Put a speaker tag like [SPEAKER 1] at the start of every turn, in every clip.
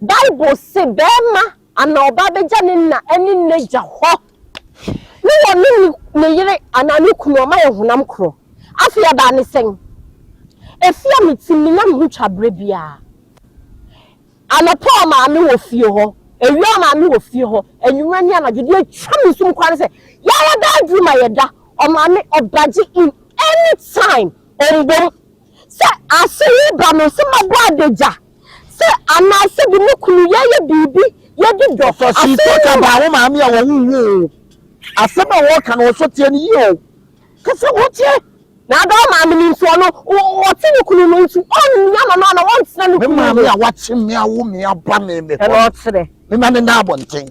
[SPEAKER 1] Bible se barima anaa ɔbaa begya ne na ne n'agya hɔ ne wɔne ne yere anaa ne kunu ɔma yɛ honam koro. Afei ɛbaa ne sɛn? Efi a me tim menya me ho twa bere biara. Anɔpa ɔ maame wɔ fie hɔ, awia ɔ maame wɔ fie hɔ, anwummerɛ ne anadwo. Deɛ ɛtwa me sum koraa ne sɛ yɛara bɛaduru ma yɛda ɔ maame ɔbagye in any time ɔmbom. Sɛ ase reba no, sɛ mabɔ adagya, sɛ anaasɛ bi me kunu yɛyɛ biribi yɛdi dɔ. Ɔfa sii talk about wo maame a wɔwo wo oo, asɛm a wɔka no ɔsɔ teɛ no yie oo, ka sɛ wo teɛ. Na ada wo maame no nti ɔno ɔte ne kunu no nti ɔnua no no ana ɔntena ne kunu no. Me maame a wakyem me awo me aba me mehɔ no, me ma me nna abɔnten.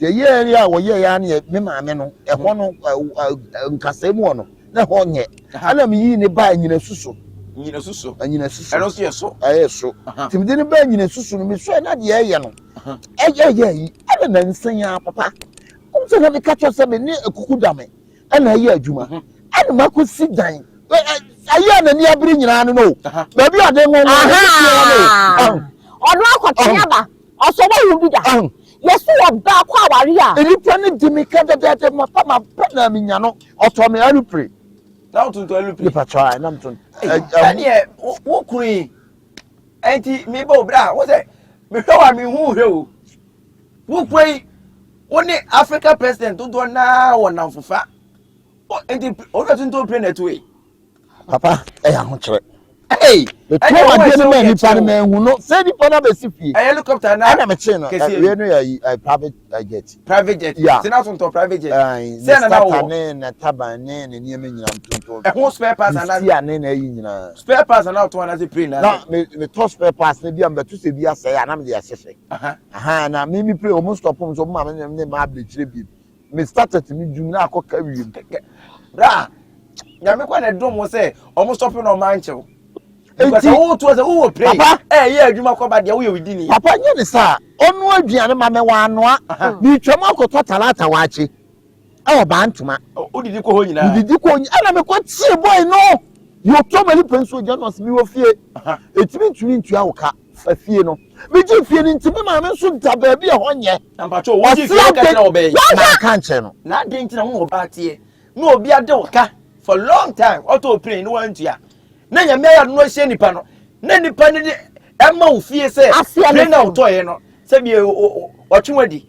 [SPEAKER 2] Yɛyɛɛ
[SPEAKER 3] yɛ a wɔyɛɛ yɛ a ne me maame no ɛhɔ no nkasɛɛ mu hɔ no na ɛhɔ nyɛ ɛna meyii ne baa nyinasu so nyinasu so
[SPEAKER 2] nyinasu so ɛno nso yɛ so
[SPEAKER 3] ɛyɛ so nti mede ne baa nyinasu so no mesɔɛ na deɛ ɛyɛ no ɛyɛ yɛ yi ɛna nansa yi ara papa ɔm sɛ na meka kyerɛ sɛ me ne akuku da me ɛna ɛyɛ adwuma ɛna makɔsi dan ayé a n'ani abiri nyinaa no no baabi a ɔde nwɔnwɔ no ɔno
[SPEAKER 1] akɔtwe aba Ɔsɔ w'ahu bi da? Yɛso wɔ baa kɔ aware a. Nnipa no di me ka
[SPEAKER 3] dɛdɛɛdɛ mafa maba na menya no ɔtɔ me alupre. Na wo tontɔ
[SPEAKER 2] alupre? Nipa tɔ a na me ton.
[SPEAKER 3] Sɛdeɛ
[SPEAKER 2] wo kunu yi ɛnti me bɔ obra wo sɛ me hwɛ wa me hu hwɛ o wo kuro yi wo ne Africa president dodoɔ naa wɔ namfofa ɛnti ɔdɔ tontɔ pre na ɛtoe. papa
[SPEAKER 3] ɛyɛ ahokyerɛ
[SPEAKER 2] ɛtuo mu adeɛ
[SPEAKER 3] no ma nipa no ma ehu no sɛ nipa no abɛsi fie ɛyɛ helicopter na ɛna mekye
[SPEAKER 2] no ɛwia
[SPEAKER 3] no yɛ private jet private jet ya sena
[SPEAKER 2] so ntɔ private jet sɛ na na wɔ
[SPEAKER 3] ne na taban ne ne nneɛma nyina ntonto ɛho spare parts ana
[SPEAKER 2] si ane na ayi nyina
[SPEAKER 3] spare parts ana ɔtɔn ana
[SPEAKER 2] sɛ plane na na me me tɔ spare
[SPEAKER 3] parts na bi a mbɛto sɛ bi asɛe ana mede ahyehyɛ aha na me me plane ɔmo stop ɔmo so ɔmo ma me ne ma abirikyire bi me started me dwuma na akɔ ka wiem kɛkɛ bra
[SPEAKER 2] nyame kɔ na dom wo sɛ ɔmo sɔpe na ɔmo ankyɛw nti wo to sɛ wo pray papa eh yɛ adwuma kɔ ba dia wo yɛ widi ni papa nyɛ ne sa
[SPEAKER 3] ɔno aduane ma me wa anoa me twam akɔtɔ talata waakye ɛwɔ baa ntoma wodidi kɔ hɔ nyinaa
[SPEAKER 2] wodidi kɔ nyinaa ɛna mekɔ
[SPEAKER 3] tie bɔe no yɛ ɔtɔ mani pɛ nso ogya no ɔse mewɔ fie ɛtumi ntumi ntua wo ka fa fie no megye fie no nti me maame nso da baabi a ɛhɔ nyɛ mpakyɛ wogye fie no
[SPEAKER 2] ka kyerɛ ɔbɛn nanka nkyerɛ no
[SPEAKER 3] na adɛn nti na wo na ɔbaa
[SPEAKER 2] teɛ na obi ade wo ka for long time ɔtɔ opine ne wantua na nyame ayɛ no ahyia nipa no na nipa no de ɛma wo fie sɛ pire na wotɔeɛ no sɛ bie ɔtwe wadi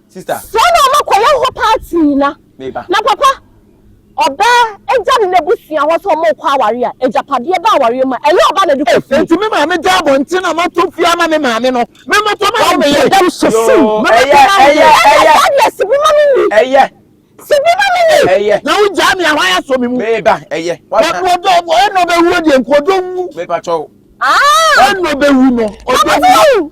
[SPEAKER 2] Sister. Saa na ɔma kɔ yɛ
[SPEAKER 1] hɔ paa tii na. Me ba. Na papa. Ɔbaa egya ne n'abusua hɔ sɛ ɔmo kɔ aware a egyapadeɛ ba awareɛ mu a ɛyɛ ɔbaa na ɛde kɔ fie. Enti me maame gya abɔnten
[SPEAKER 3] a mato fie ama me maame no me mɛtɔ ma me yere. Ɛdam so fuu. Yoo
[SPEAKER 1] ɛyɛ ɛyɛ ɛyɛ. Ɛnyɛ saa deɛ sibi ma me ni. Ɛyɛ.
[SPEAKER 2] Sibi ma
[SPEAKER 1] me ni. Ɛyɛ. Na wo gyaa me
[SPEAKER 2] a hwan
[SPEAKER 3] asɔ me mu. Me ba ɛyɛ. Wasa.
[SPEAKER 2] Na ɔdɔ ɛna
[SPEAKER 3] ɔbɛwuo deɛ nka ɔdɔ nwu. Me pa kyɛw.
[SPEAKER 2] Aa. Ɛna
[SPEAKER 3] ɔbɛwu no ɔdɔ nwu. Ɔbɛwu.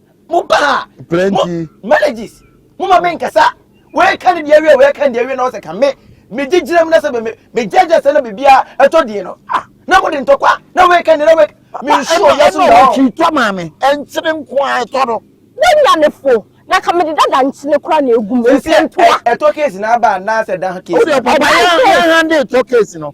[SPEAKER 2] mo ba a plenty
[SPEAKER 3] marriages
[SPEAKER 2] mo ma me nkasa wei ka ne deɛ wie wei ka ne deɛ wie na ɔsɛ ka me me gyegyina mu na sɛ me me gyegye sɛ na biribi a ɛtɔ deɛ no ah na mo de ntɔkwa na wei ka ne na wei me nsu wɔ wiase mu na ɔtwi tɔ maa me ɛnkyene
[SPEAKER 3] nko a ɛtɔ no. Wanya
[SPEAKER 1] ne fo na ka me de dada nkyene kora na egu mu nti ntoa. Ɛtɔ
[SPEAKER 2] case na aba anaasɛ da case. Wode papa yɛn yɛn
[SPEAKER 3] hande tɔ case no.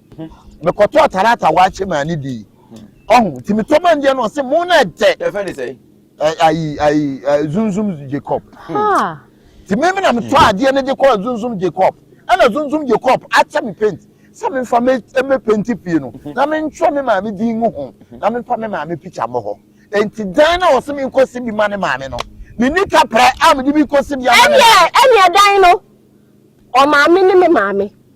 [SPEAKER 3] mekɔtɔɔ tarata a wɔakyɛ maa no dii ɔho nti metɔ maa ndeɛ no ɔse mo no ɛdɛ ɛfɛ ne sɛ
[SPEAKER 2] ayi ayi
[SPEAKER 3] zunzum jacob nti me me na metɔ adeɛ no de kɔɔ zunzum jacob ɛna zunzum jacob akyɛ me paint sɛ memfa me penti pie no na mentwerɛ me maame din ngu ho na memfa me maame pikya mmɔ hɔ nti dan na ɔse menkɔsi bi ma ne maame no menni kaprɛ a mede bi kɔsi bi ama ɛneɛ dan no
[SPEAKER 1] ɔmaame ne me maame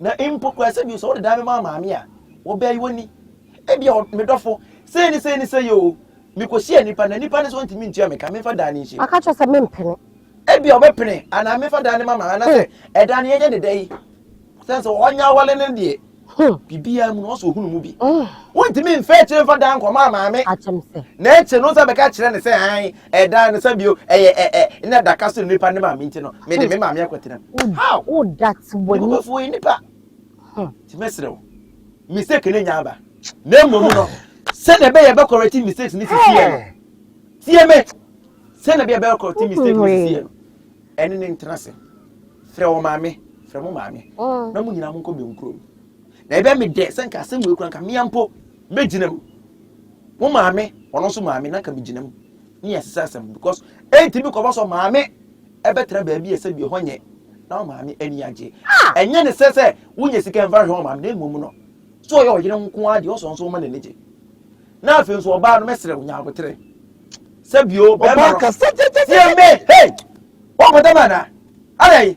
[SPEAKER 2] Na mpo koraa sɛ bi sɛ wode dan bɛma amaame a, wɔbɛyi wo ani. Ebia ɔ, me dɔfo, sei ne sei ne sei o, mekɔhyiaa nnipa na nnipa no sɛ wɔntumi ntua me ka, memfa dan no nhyɛ mu. Wɔaka akyerɛ sɛ mempene.
[SPEAKER 1] Ebia wɔbɛpene,
[SPEAKER 2] anaa memfa dan no ma ma, anaasɛ ɛdan no yɛnyɛ ne dɛ yi. Sɛne sɛ ɔnyɛ awale no deɛ, biribiara mu no, ɔsɛ ɔhunu mu bi. Wontumi mfa akyire mfa dan nkɔma amaame. Na akyire
[SPEAKER 1] no wo nsa bɛka
[SPEAKER 2] kyerɛ no sɛ, ae, Ɛdan no sɛ bio ɛyɛ ɛ ɛ na adaka so nipa ne maame nti no mede me maame akɔtena mu. How? Wo dat wɔ
[SPEAKER 1] ni. Nipa fo yɛ nipa.
[SPEAKER 2] Ti mɛsrɛ wo mistake no nya aba na mmom no sɛdeɛ ɛbɛyɛ ɛbɛ correct mistakes no sisi yɛ no tie me sɛdeɛ ɛbɛyɛ ɛbɛ correct mistake no sisi yɛ no ɛne ne ntena se frɛ wɔ maame frɛ mo maame na mo nyinaa mo nkɔ bɛn kurom na ɛbɛ me dɛ sɛ nka asɛm wɔ ekura nka mmea mpo. Megyina mu. Mo maame, ɔno nso maame, na nka megyina mu. Ne yɛ sesa asɛm because ɛntumi kɔba sɔ maame ɛbɛtena baabi a sɛbi ɛhɔ nyɛ na maame ani agye. Ɛnyɛ ne sɛ sɛ wonya sika mfa hwɛ maame na mmom no so ɔyɛ ɔyere nko ara deɛ ɔsɔ nso ɔma n'ani gye. Na afei nso ɔbaa no mɛsrɛ wo nya abotere. Sɛbi o bɛrima no. Ɔbaa kasa gyɛgyɛgyɛ. Tie me
[SPEAKER 3] hey!
[SPEAKER 2] Wɔkɔda ma na. Adɛn?